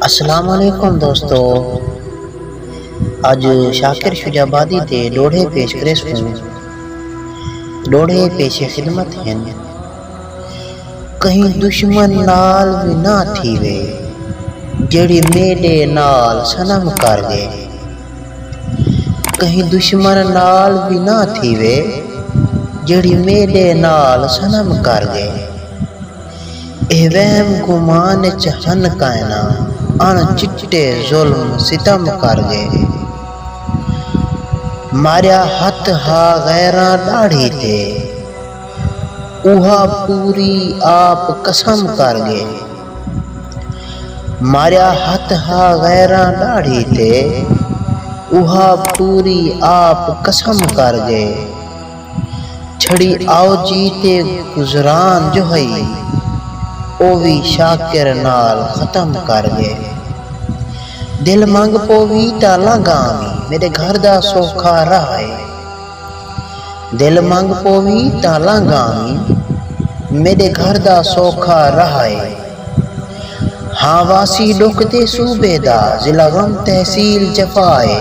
اسلام علیکم دوستو اج شاکر شجاع آبادی تے ݙوہڑے پیش کریس کوں ݙوہڑے پیش خدمت ہن کہیں دشمن نال وی نہ تھیوے جیڑھی میݙے نال صنم کر ڳئے کہیں دشمن نال وی نہ تھیوے جیڑھی میݙے نال صنم کر ڳئے۔ اے وہم گمان اچ ہن کائنا اݨ چٹے ظلم ستم کر ڳئے ماریا ہتھ ہا غیراں ݙاڑھی تے اوہا پوری آپ قسم کر ڳئے ماریا ہتھ ہا غیراں ݙاڑھی تے اوہا پوری آپ قسم کر ڳئے۔ چھڑی آو جی تے گزران جو ہئی او وی شاکر نال ختم کر ڳئے دل منگ پووی تاں لنگھ آوی میݙے گھر دا سوکھا راہ اے دل منگ پووی تاں لنگھ آوی میݙے گھر دا سوکھا راہ اے ہاں واسی ݙکھ تے صوبے دا ضلع غم تحصیل جفا اے۔